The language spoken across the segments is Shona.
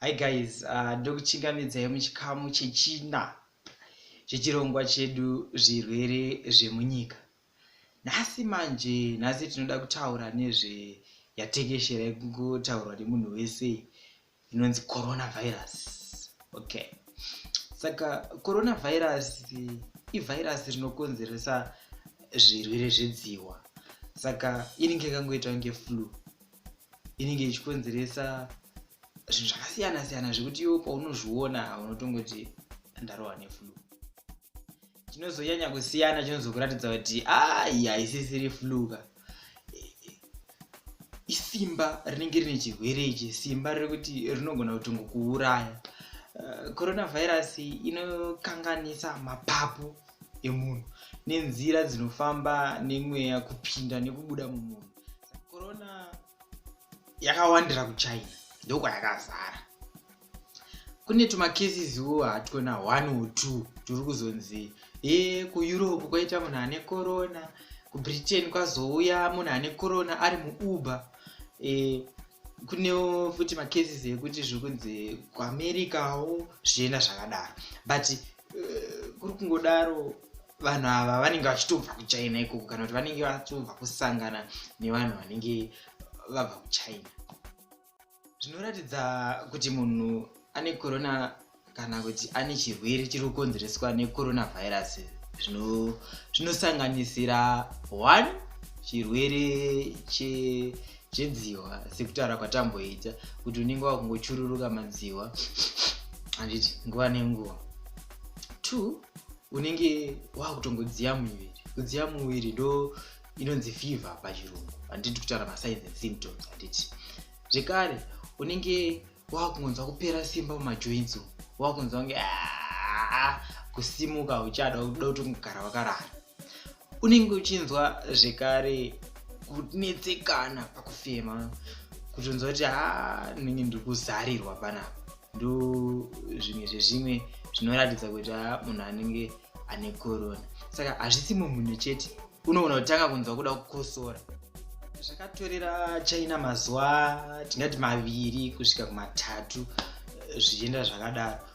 hi guys uh, ndokuchingamidzai muchikamu chechina chechirongwa chedu zvirwere zvemunyika nhasi manje nhasi tinoda kutaura nezve yatekeshera yekungotaurwa nemunhu wese inonzi coronavirus okay saka coronavirus ivhairasi rinokonzeresa zvirwere zvedziwa saka inenge ikangoita kunge flu inenge ichikonzeresa zvinhu zvakasiyana siyana zvekuti iwo paunozviona unotongoti ndarohwa neflu chinozonyanya kusiyana chinozokuratidza kuti ayi haisisiri fluka isimba rinenge rine chirwere ichi simba rekuti rinogona kutongokuuraya eh, coronavirus inokanganisa mapapu emunhu nenzira dzinofamba nemweya kupinda nekubuda mumunhu corona yakawandira kuchina ndokwayakazara kune tumakesiswo hatwona one or two turi kuzonzi e kueurope kwaita munhu ane corona kubritain kwazouya munhu ane corona ari muuber e, kunewo futi macases ekuti zviri kunzi kuamericawo zvichienda zvakadaro but uh, kuri kungodaro vanhu ava vanenge vachitobva kuchina ikoko kana kuti vanenge vatobva kusangana nevanhu vanenge vabva kuchina zvinoratidza kuti munhu ane corona kana kuti ane chirwere chiri kukonzereswa necoronavirus zvinosanganisira one chirwere chedzihwa sekutaura kwatamboita kuti unenge wakungochururuka madzihwa handiti nguva nenguva two unenge wakutongodziya muviri kudziya muviri ndo inonzi fever pachirungu handiti kutaura masigns and symptoms handiti zvekare unenge wakungonzwa kupera simba mumajoints wakungonzwa kunge ah, kusimuka uchada kuda kutongogara wakarara unenge uchinzwa zvekare kunetsekana pakufema kutonzwa kuti ha ndinenge ndiri kuzarirwa panapa ndo zvimwe zvezvimwe zvinoratidza kuti ha munhu anenge ane korona saka hazvisi mumhunhu chete unogona kutanga kunzwa kuda kukosora zvakatorera china mazuva tingati maviri kusvika kumatatu eh, zvichienda zvakadaro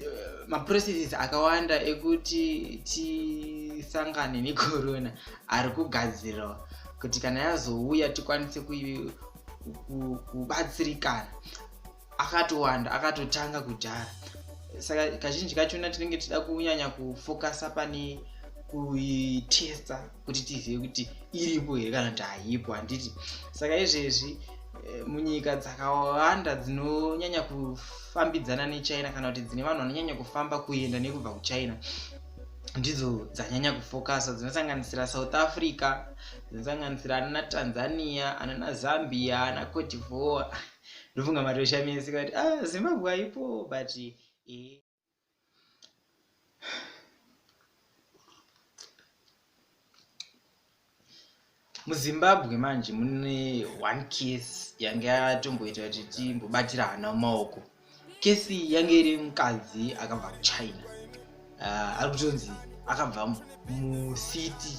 uh, maprocesses akawanda ekuti tisangane necorona ari kugadzirwa kuti kana yazouya tikwanise kubatsirikana akatowanda akatotanga kudhara saka kazhinji kachona tinenge tichida kunyanya kufocusa pane kuitesta kuti tizive kuti iripo here kana kuti haipo handiti saka izvezvi eh, munyika dzakawanda dzinonyanya kufambidzana nechina kana kuti dzine vanhu vanonyanya kufamba kuenda nekubva kuchina ndidzo dzanyanya kufokasa dzinosanganisira south africa dzinosanganisira anana tanzania anana zambia ana cotivore ndofunga matoshamisi kati ah, zimbabwe aipo but eh. muzimbabwe manje mune one case yange yatomboita kuti timbobatira hana mumaoko kesi yange iri mukadzi akabva kuchina uh, ari kutonzi akabva mucity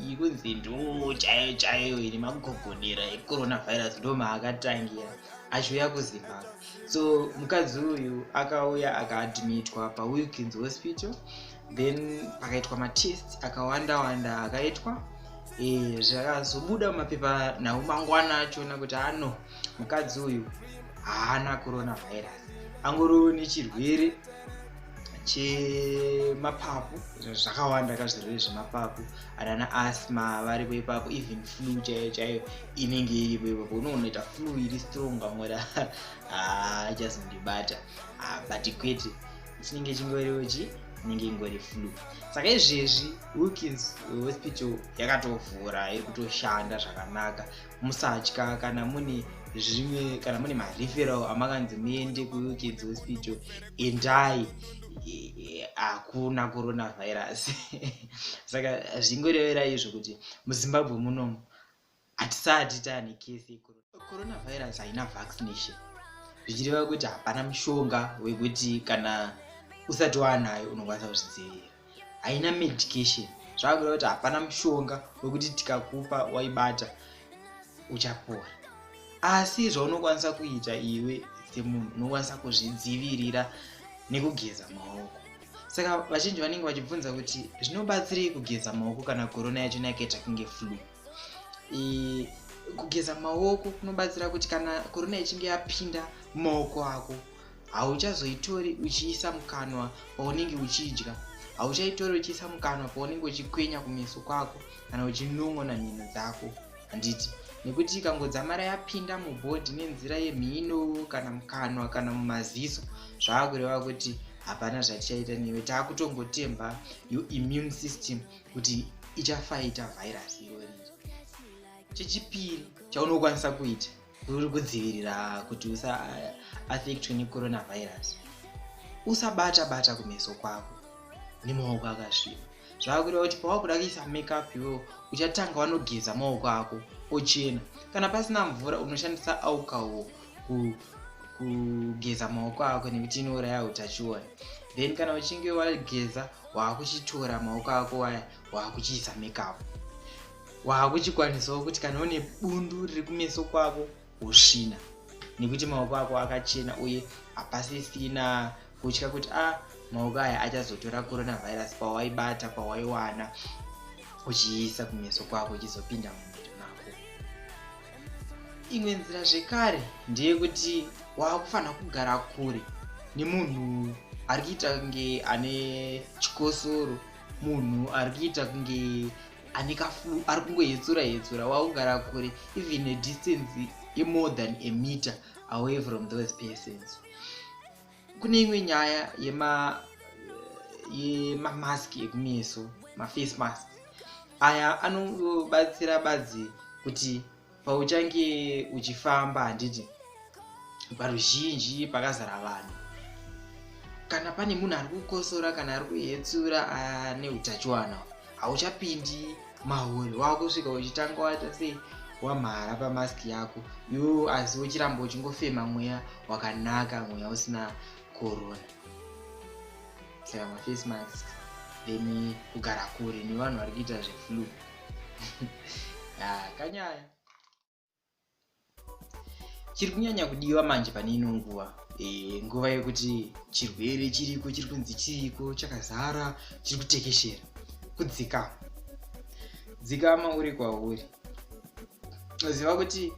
yekunzi ndoo chaiyo chaiyo ine magogodera ecoronavirus ndo maakatangira achiuya kuzimbabwe so mukadzi uyu akauya akaadmitwa pawilkins hospital then pakaitwa matest akawanda wanda akaitwa eh, zvakazobuda mumapepa nhau mangwana achiona kuti ano mukadzi uyu haana coronavirus angoriwo nechirwere chemapapu zvakawanda ka zvirwere zvemapapu anana asma varipo ipapo even flu chaiyo chaiyo inenge iripo ipapo unoonoita flu iri strong vamwe achazondibata ah, ah, but kwete chinenge chingoriwo chi inenge ingori flu saka izvezvi wilkins hospital yakatovhura iri kutoshanda zvakanaka musatya kana mune zvimwe kana mune mareferal amakanzi muende kuuk dzehospital endai hakuna coronavirus saka zvingorevera izvo kuti muzimbabwe munomu hatisati taane kese coronavirus haina vaccination zvichireva kuti hapana mushonga wekuti kana usati waanayo unokwanisa kuzvidzivirira haina medication zvakuda kuti hapana mushonga wekuti tikakupa waibata uchapora asi zvaunokwanisa kuita iwe semunhu unokwanisa kuzvidzivirira nekugeza maoko saka vazhinji vanenge vachibvunza kuti zvinobatsirei kugeza maoko kana korona yacho nayakaita kunge flu kugeza maoko kunobatsira kuti kana korona ichinge yapinda mumaoko ako hauchazoitori uchiisa mukanwa paunenge uchidya hauchaitori uchiisa mukanwa paunenge uchikwenya kumeso kwako kana uchinon'ona mhino dzako handiti nekuti ikangodzamara yapinda mubhodhi nenzira yemhino kana mukanwa kana mumaziso zvava kureva kuti hapana zvatichaita newe taakutongotemba your immune system kuti ichafaita virus irori chechipiri chaunokwanisa kuita uri kudzivirira kuti usa affectwe necoronavirus usabata bata kumeso kwako nemaoko akasviba zvakureva kuti pawakuda kuisa makeup iwewo uchatanga wanogeza maoko ako ochena kana pasina mvura unoshandisa alcohol kugeza maoko ako nekuti inouraya utachiona then kana uchinge wageza waakuchitora maoko ako waya waakuchiisa makeup waakuchikwanisawo kuti kana une bundu riri kumeso kwako wosvina nekuti maoko ako akachena uye hapasisina kutya kuti a ah, maoko aya achazotora coronavirus pawaibata pawaiwana uchiisa kumeso kwako uchizopinda mumiri mako imwe nzira zvekare ndeyekuti waakufanira kugara kure nemunhu ari kuita kunge ane chikosoro munhu ari kuita kunge ane kaflu ari kungohetsura hetsura waugara kure even a distance yemore than a meter away from those persons kune imwe nyaya yema yemamask ekumeso maface mask aya anobatsira badzi kuti pauchange uchifamba handiti paruzhinji pakazara vanhu kana pane munhu ari kukosora kana ari kuhetsura ane utachiwana hauchapindi mahuri wakusvika uchitanga waita sei wamhara pamask yako yo asi uchiramba uchingofema mweya wakanaka mweya usina corona saka mafacemask then kugara kure nevanhu vari kuita zveflue ah, kanyaya chiri kunyanya kudiwa manje pane ino nguva e, nguva yekuti chirwere chiriko chiri kunzi chiriko chakazara chiri kutekeshera kudzikama dzikama uri kwauri ziva kuti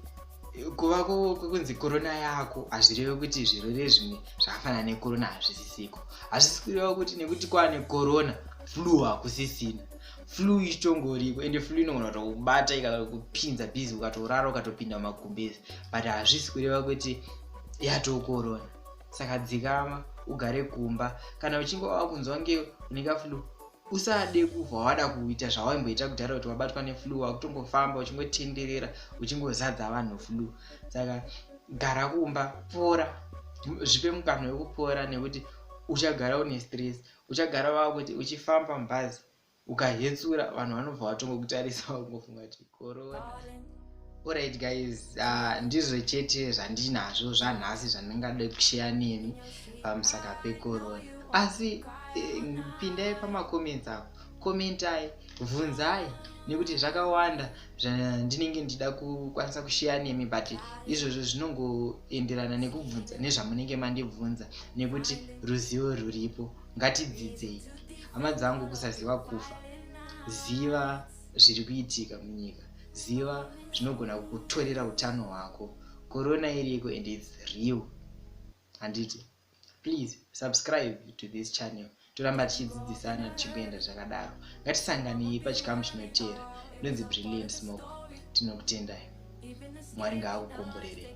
kuva kwekunzi korona yako hazvireve kuti zvirwere zvimwe zvakafanana nekorona hazvisisiko hazvisi kureva kuti nekuti kwaane korona flu hakusisina flu ichitongoriko ende flu inogona kutokubata ikakupinza busy ukatorara ukatopinda mumagumbezi but hazvisi kureva kuti yatokorona saka dzikama ugare kumba kana uchinge wava kunzwa nge uneka flu usade kubva wada kuita zvawaimboita kudhara kuti wabatwa neflu wakutongofamba uchingotenderera uchingozadza vanhu flu saka gara kumba pora zvipe mukana wekupora nekuti uchagara une stress uchagara vava kuti uchifamba mubhazi ukahetsura vanhu vanobva vatongokutarisa vangofunga kuti korona orit guys uh, ndizvo chete zvandinazvo zvanhasi zvandingada kusheya nemi pamusaka pekorona asi eh, pindai pamacomments apo komentai bvunzai nekuti zvakawanda zvandinenge ndichida kukwanisa kusheya nemi but izvozvo zvinongoenderana nekubvunza nezvamunenge mandibvunza nekuti ruzivo rwuripo ngatidzidzei hama dzangu kusaziva kufa ziva zviri kuitika munyika ziva zvinogona kukutorera utano hwako korona iriko and its real handiti please subscribe to this channel toramba tichidzidzisana tichingoenda zvakadaro ngatisanganei pachikamu chinoteera ndonzi brilliant smoke tinokutendai mwari ngaakukomborerei